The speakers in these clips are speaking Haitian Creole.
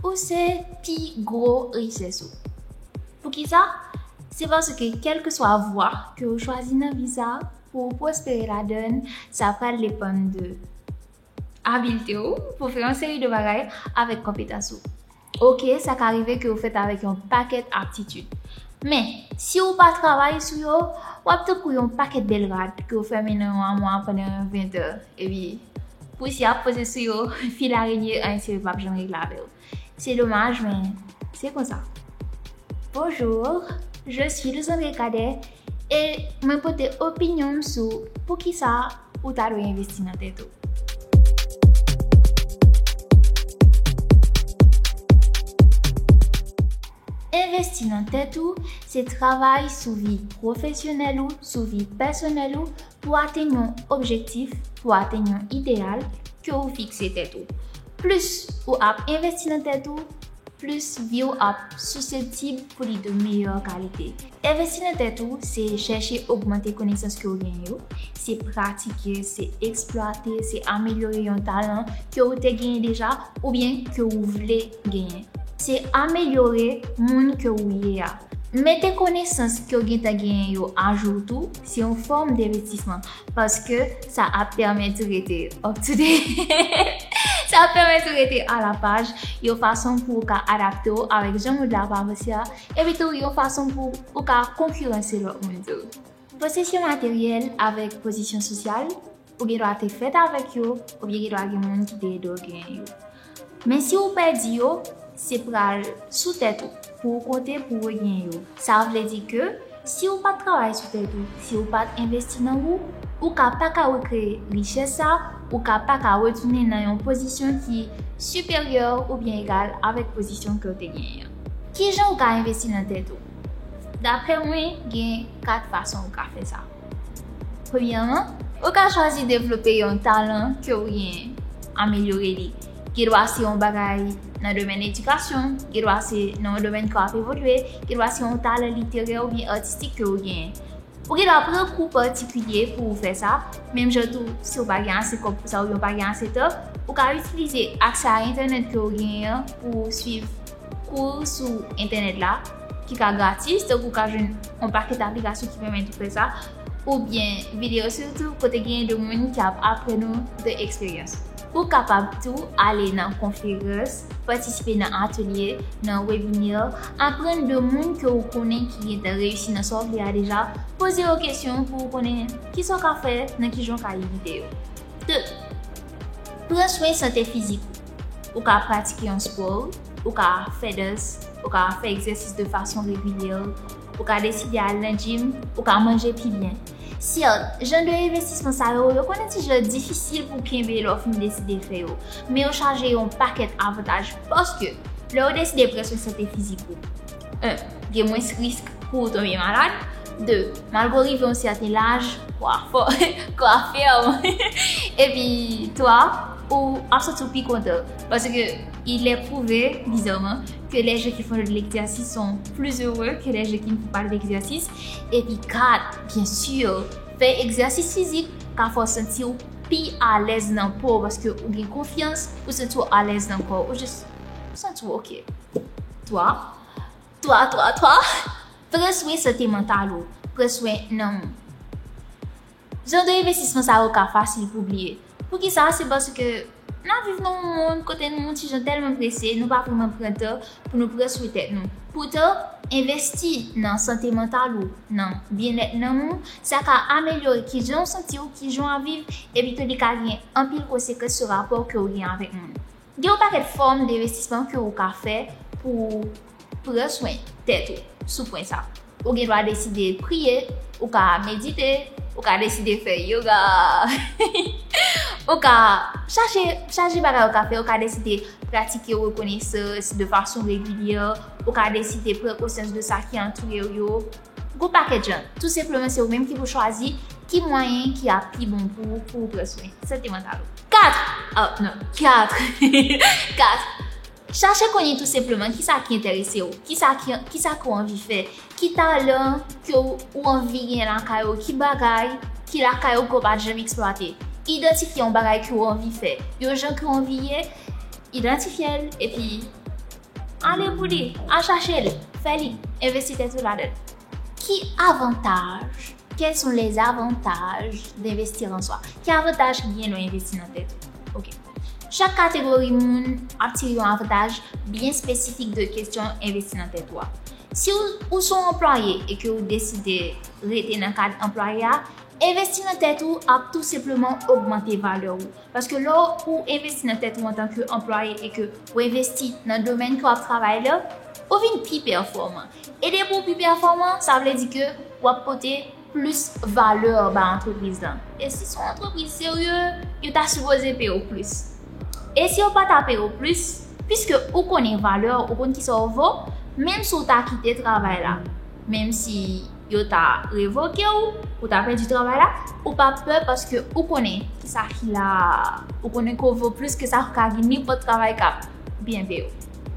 Ou se pi gwo richès ou. Poukisa? Se paske kèlkeswa vwa ke ou chwazi nan vi sa, pou ou pwospere ladann, sa pral depann de abilte ou pou fè yon seri de bagay avèk konpetans ou. Ok, sa ka rive ke ou fèt avèk yon pakèt aptitid. Men, si ou pa travay sou yo, wap tankou yon pakèt bèl rad ke ou fèmen nan yon amwa pandan 20 è. Epi pousyè ap poze sou yo, fil arenye anyen serye pap janm regle avè yo. Se domaj men se konsa. Bonjour, je suis Luzanre Cadet e mwen pote opinyon m sou poukisa ou ta dwe envesti nan tèt ou. Envesti nan tèt ou se travay sou vi pwofesyonèl ou, sou vi pèsonèl ou Pou atenn yon objektif, pou atenn yon ideyal ke ou fikse tèt ou, plis ou ap envesti nan tèt ou, plis vi w ap siseptib pou li de meyè kalite. Envesti nan tèt ou, se chèche ogmante konesans ke ou genyen yo, se pratike, se eksplwate, se amelyore yon talan ke ou te genyen deja oubyen ke ou vle genyen. Se amelyore moun ke ou ye a. Mete konesans ke ou gentan genyen yo ajou tou. Se yon fòm devetisman paske sa ap pèmèt ou rete up to date. Sa ap pèmèt ou rete a la paj yon fason pou ou ka adapte ou avèk jan mond la ap avanse a, epi tou yon fason pou ou ka konkiranse lòt moun tou. Posesyon materyèl avèk pozisyon sosyal Ou gen dwa te fèt avèk yo, oubyen gen dwa gen moun ki te ede w genyen yo. Men si ou pèdi yo, se pral sou tèt ou pou ou konte pou ou regenyen yo. Sa vle di ke si ou pat travay sou tèt ou, si ou pat envesti nan ou, ou ka pa ka rekreye richès sa, ou ka pa ka retounen nan yon pozisyon ki siperyè oubyen egal avèk pozisyon ke ou te genyen an. Kijan ou ka envesti nan tèt ou? Daprè mwen, gen 4 fason ou ka fè sa. Premyèman, ou ka chwazi devlope yon talan ke ou genyen, amelyore li. Gen dwa se yon bagay nan domèn edikasyon, gen dwa se nan yon domèn ke w ap evolye, gen dwa se yon talan literè oubyen atistik ke ou genyen. Ou gen dwa pran kou patikilye pou ou fè sa, menm jan tou si ou pa gen ase kòb pou sa oubyen ou pa gen ase tan, ou ka itilize aksè a entènèt ke ou genyen an pou ou swiv. Kou sou entènèt la ki ka gratis, donk ou ka jwenn yon pakèt aplikasyon ki pèmèt ou fè sa, oubyen videyo sou YouTube kote genyen de moun ki ap aprann ou de eksperyans yo. Ou kapab tou ale nan konferans, patisipe nan atelye, nan webinè, aprann de moun ke ou konnen ki gentan reyisi nan sa w vle a deja, poze yo kesyon pou ou konnen kisa w ka fè, nan kijan w ka evite yo. 2, Pran swen sante fizik ou. Ou ka pratike yon spò, ou ka fè dans, ou ka fè egzèsis de fason regilye, ou ka deside al nan jim, ou ka manje pi byen. Syèt, jan de envestisman sa yo, yo konnen ti jan difisil pou w kenbe lè w fin deside fè yo. Men yo chaje yon pakèt avantaj paske lè ou deside pran swen sante fizik ou, 1. Gen mwens risk pou ou tonbe malad. 2. Malgre w rive yon sèten laj, w a fò, kò a fèm. Epi 3. Ou ap santi w pi kontan. Paske il è pwouve, bizarman, ke lè je ki fò de lekzèsis son pli ere ke lè je ki n fò pa de lekzèsis. Epi 4. Byen si, fè ekzèsis fizik ka fè w santi w pi alèz nan po w paske ou gen konfyans, ou santi w alèz nan kò w. Ou jis santi w ok. 3. 3, 3, 3, Pran swen sante mantal ou. Pran swen nanm ou. Jan de envestisman sa yo ka fasil pou bliye. Poukisa? Se paske n ap viv nan yon monn kote nou yon ti jan tèlman prese, nou pa vreman pran tan pou nou pran swen tèt nou. Poutan, envesti nan sante mantal ou, nan byennèt nanm ou, sa ka amelyore kijan ou santi ou, kijan w ap viv, epi tou li ka gen anpil konsekans sou rapò ke ou gen avèk moun. Gen yon pakèt fòm denvestisman ke ou ka fè pou ou pran swen tèt ou sou pwen sa. Ou gen dwa deside priye, ou ka medite, ou ka deside fè yoga, ou ka chache chaje bagay ou ka fè, ou ka deside pratike rekonesans de fason regilyè, ou ka deside pran konsyans de sa ki antoure ou yo. Gwo pakèt jan, tou senpleman se ou menm ki pou chwazi ki mwayen ki ap pi bon pou ou pou ou pran swen sante mantal ou. 4, Oh non, 4, 4. Chache konnen tou senpleman ki sa ki enterese ou, ki sa ki, ki sa ke ou anvi fè, ki talan ke ou, ou anvi gen lakay ou, ki bagay ki lakay ou ke ou pa t janm eksplwate. Idantifye yon bagay ke ou anvi fè, yon jan ke ou anvi ye, idantifye l epi. Ale pou li! Al chache l! Fè li! Envesti tèt ou ladan l! Ki avantaj, Quels sont les avantages d'investir en soi? Ki avantaj ki gen nan envesti nan tèt ou? Ok. Chak kategori moun ap tire yon avantaj byen espesifik de kesyon envesti nan tèt ou a. Si ou se yon anplwaye e ke ou deside rete nan kad anplwaye a, envesti nan tèt ou ap tou senpleman ogmante valè ou. Paske lè ou envesti nan tèt ou antanke anplwaye e ke ou envesti nan domèn ke w ap travay la, ou vin pi pèfòman. E depi ou pi pèfòman, sa vle di ke w ap pote plis valè ba antrepriz lan. E si se yon antrepriz serye, yo ta sipoze peye w plis. E si yo pa ta peye w plis, piske ou konnen valè w, ou konn kisa w vo, menm si w ta kite travay la, menm si Yo ta revoke ou, ou ta pèdi travay la, ou pa pè paske ou konnen ki sa ki la a. Ou konnen ke w vo plis ke sa ka gen nenpòt travay k ap byen peye w.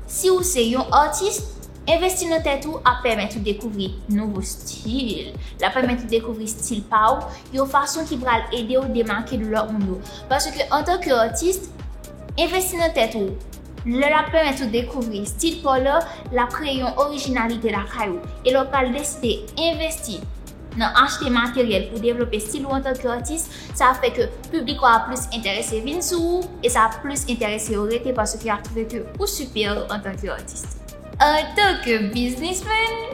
Si ou se yon atis, envesti nan tèt ou ap pèmèt ou dekouvri nouvo stil. L ap pèmèt ou dekouvri stil pa ou yon fason ki pral ede ou demake de lòt moun yo. Paske antanke atis, envesti nan tèt ou. Lè l ap pèmèt ou dekouvri estil pa w la, l ap kreye yon orijinalite lakay ou. E lè w pral deside envesti nan achte materyèl pou devlope estil ou antanke atis, sa ap fè ke piblik ou a ap plis enterese vin sou ou e sa ap plis enterese yo rete paske y ap twouve ke ou siperyè antanke atis. Antanke biznismen,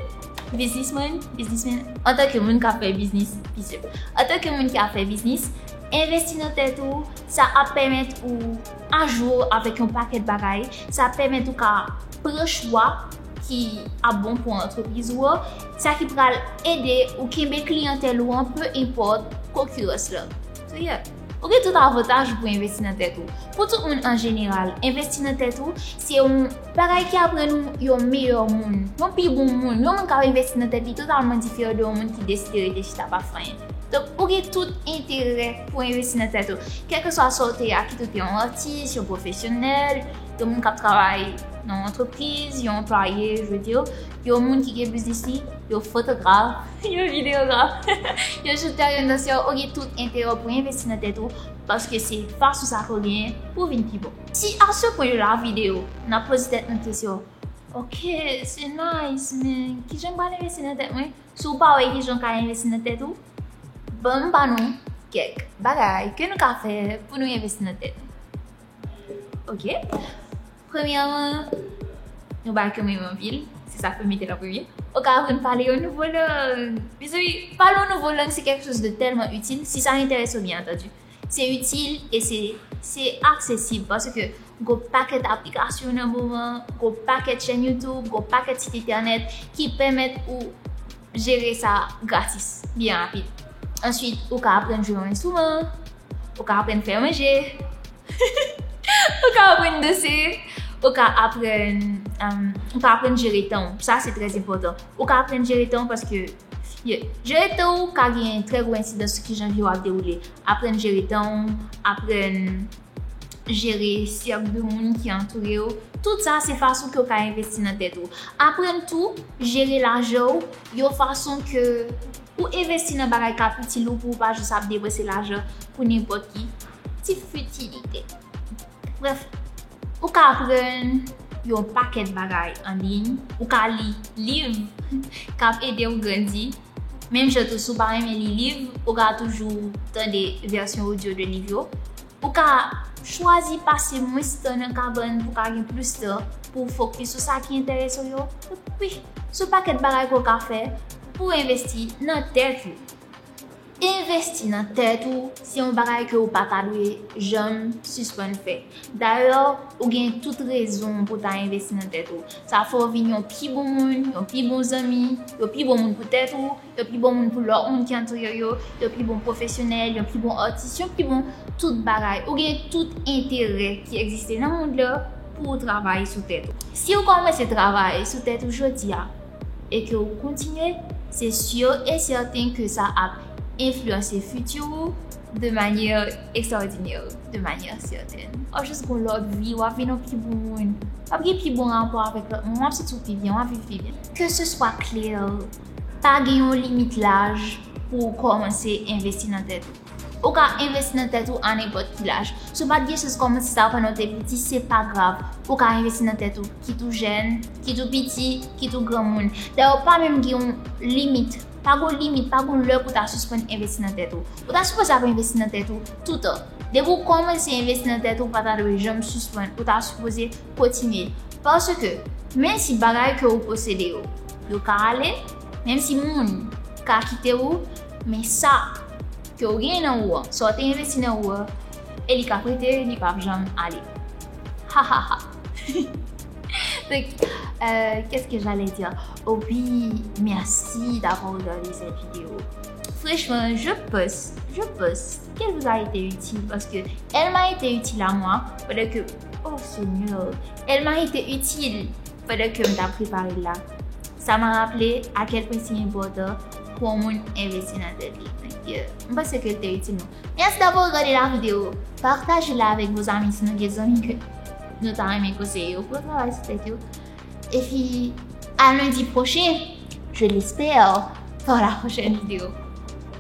Biznismen, Biznismen, Antanke moun k ap fè biznis, Biznismen, Antanke moun ki ap fè biznis, envesti nan tèt ou, sa ap pèmèt ou. ajou avèk yon pakèt bagay, sa pèmèt ou ka pran chwa ki ap bon pou antrepriz ou an, sa ki pral ede ou kenbe kliyantèl ou an pe enpòt konkirans lan. Triyè. Ou gen tout avantaj pou envesti nan tèt ou. Pou tout moun an jeneral, envesti nan tèt ou se yon bagay ki aprann ou yon meyè moun, yon pi bon moun, yon moun k ap envesti nan tèt li totalman diferan de yon moun ki deside rete chita pa fè anyen. Donk, ou gen tout enterè pou envesti nan tèt ou. Kèlkeswa sa ou te a, kit ou te yon atis, yon pwofesyonèl, yon moun k ap travay nan yon antrepriz, yon anplwaye, je vle di, yon moun ki gen biznis li, yon fotograf, yon videyograf, yon chantè, yon dansè, ou gen tout enterè pou envesti nan tèt ou paske se fason sa ke w genyen pou w vin pi bon. Si a se pwen yo lavi de ou, n ap poze tèt nou kesyon, Ok, se nice, men kijan m pral envesti nan tèt mwen? Si w pa wè kijan w ka envesti nan tèt ou, ban m ba nou kèk bagay ke nou ka fè pou nou envesti nan tèt nou. Ok? Premyèman, yon bagay ke mwen renmen anpil, se sa ke mete la premye, ou ka aprann pale yon nouvo lang. Mezanmi, pale yon nouvo lang se kèk chòz de tèlman itil, si sa enterese w byen antandu. Se itil e se se aksesib paske gwo pakèt aplikasyon nan moman an, gwo pakèt chèn YouTube, gwo pakèt sit entènèt ki pèmèt ou jere sa gratis, byen rapid. Answit, ou ka aprann jwe yon enstriman, ou ka aprann fè manje, ou ka aprann danse, ou ka aprann, ou ka aprann jere tan ou. Sa se trè enpòtan. Ou ka aprann jere tan ou paske. Ye. Jere tan ou ka gen trè gwo ensidans sou kijan vi w ap dewoule. Aprann jere tan ou, aprann jere sèk de moun ki antoure w, tout sa se fason ke w ka envesti nan tèt ou. Aprann tou jere lajan ou yon fason ke ou envesti nan bagay k ap itil ou pou ou pa jis ap depanse lajan pou nenpòt ki ti fitilite. Brèf, ou ka aprann yon pakèt bagay an liy, ou ka li liv k ap ede ou grandi. Menm jan tou, si ou pa renmen li liv, ou ka toujou tande vèsyon odyo de liv yo. Ou ka chwazi pase mwens tan nan kabann pou w ka gen plis tan pou w fokis sou sa ki enterese w yo. Wi, sou pakèt bagay ke w ka fè pou w envesti nan tèt ou. Envesti nan tèt ou se yon bagay ke ou pa ta dwe janm sispann fè. Dayè, ou gen tout rezon pou ta envesti nan tèt ou. Sa fè w vin yon pi bon moun, yon pi bon zanmi, yon pi bon moun pou tèt ou, yon pi bon moun pou lòt moun ki antoure w yo, yon pi bon pwofesyonèl, yon pi bon atis, yon pi bon tout bagay. Ou gen tout enterè ki egziste nan mond la pou w travay sou tèt ou. Si ou kòmanse travay sou tèt ou jodi a, e ke ou kontinye, se sur e sèten ke sa ap enfliyanse fiti ou de manyè ekstraòdinè, de manyè sètèn. W ap jis gen yon lòt vi, w ap vin yon pi bon moun, w ap gen pi bon rapò avèk lòt moun, w ap santi w pi byen, w ap viv pi byen. Ke se swa klè, pa gen yon limit laj pou ou kòmanse envesti nan tèt ou. Ou ka envesti nan tèt ou a nenpòt ki laj. Si w pa t gen chans kòmanse sa pandan w te piti, se pa grav. Ou ka envesti nan tèt ou, kit ou jèn, kit ou piti, kit ou granmoun. Dayè, pa menm gen yon limit. Pa gen yon limit, pa gen yon lè pou w ta sispann envesti nan tèt ou. Ou ta sipoze ap envesti nan tèt ou toutan. Depi w kòmanse envesti nan tèt ou, ou pa ta dwe janm sispann. Ou ta sipoze kontinye. Paske, menmsi bagay ke ou posede yo, yo ka ale, menmsi moun ka kite ou, Men sa Ke ou genyen nan ou an, sa ou te envesti nan ou an, e li ka prete li pap janm ale. Hahaha. Donc, euh, qu'est-ce que j'allais dire? Oh oui, merci d'avoir regardé cette vidéo. Franchement, je pense, je pense qu'elle vous a été utile parce que elle m'a été utile à moi pendant que, oh Seigneur, elle m'a été utile Pandan ke m t ap prepare l la, sa m raple akèl pwen si enpòtan pou yon moun envesti nan tèt li. M panse ke l te itil nou. Mèsi davò gade la video. Pataje la avèk vos amis si nou gen zanmi ke nou ta renmen konseye yo pou yo travay sou tèt yo. Epi a lundi prochen, je l'espère, pour la prochaine video.